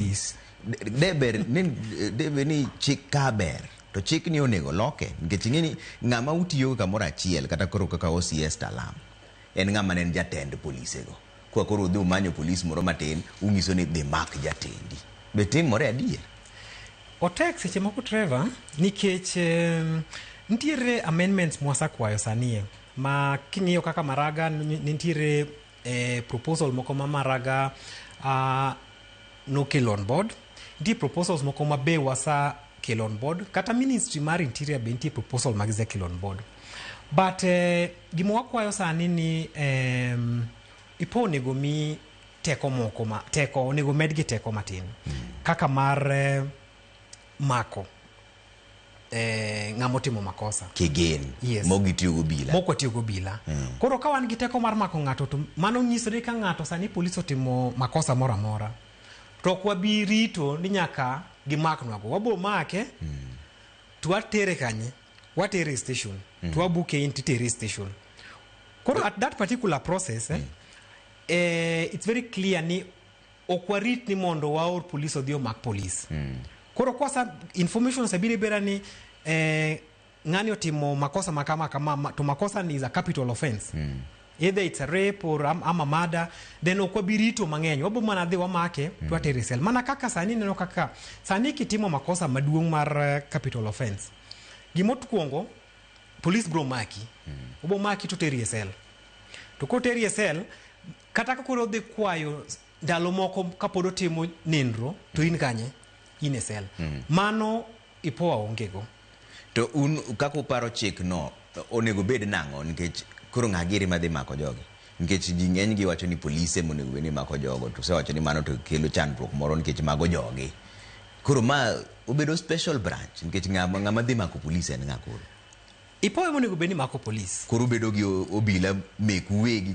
Is- de- deber ni deber ni chik ka ber to chik ni onego loke nikech ing'e ni ng'ama utiyo kamoro achiel kata koro kaka OCS Talam en ng'ama ne en jatend polisego kwa koro udhi umanyo polis moro matin ung'iso ni dhi mak jatendi be timore adier otek seche moko trevor nikech em, nitiere amendments mwasakwayo sanie ma king'iyo kaka maraga ni- nitiere e proposal moko ma Maraga uh, nokelo on board nitie proposals moko ma be wasa kelo on board kata ministry mar interior be nitie proposal ma gisekelo on board but eh, gima wakwayo sani ni em, ipo onego mi teko moko ma teko onego medgi teko matin kaka mar eh, mako eh, ng'ama otimo makosa kigen Yes. mok gitiyo gobila mok watiyo gobila koro ka wan gi teko mar mako ng'ato to mano nyiso ni ka ng'ato sani polis otimo makosa moro amora to ok wabi rito ni nyaka gimaknwago wabo make to watere kanye watere e station to wabuke in titere e station koro at that particular process eh, eh, it's very clear ni ok warit ni mondo waor polis odhi omak polis mm. koro kwasa information osebiro ibera ni eh, ng'ani otimo makosa makama kama ma- to makosa ni is a capital offense mm. either it's a rape or am- ama mada then ok wabi rito mang'eny wabo mana dhi wamake mm. to atere sel mana kaka sani neno kaka sani kitimo makosa maduong' mar eh, capital offense gimokwongo polis bro maki mm. obo maki to teri e sel to koteri e sel Kata ka koro odhi kwayo ndalo moko kapod otimo nindro to in kanye in e sel mm. mano ipoa ongego to un kaka uparo chik no onego bed nang'o nikech koro ng'a giri madhi mako jogi nikech ji ng'eny gi wacho ni polise monego bed ni mako jogo to sewacho ni mano to kelo chandruok moro nikech mago jogi koro ma obedo special branch nikech ng'ama dhi mako polise en ng'a koro ipoa monego bed ni mako polise koro obedo gi obila meku wegi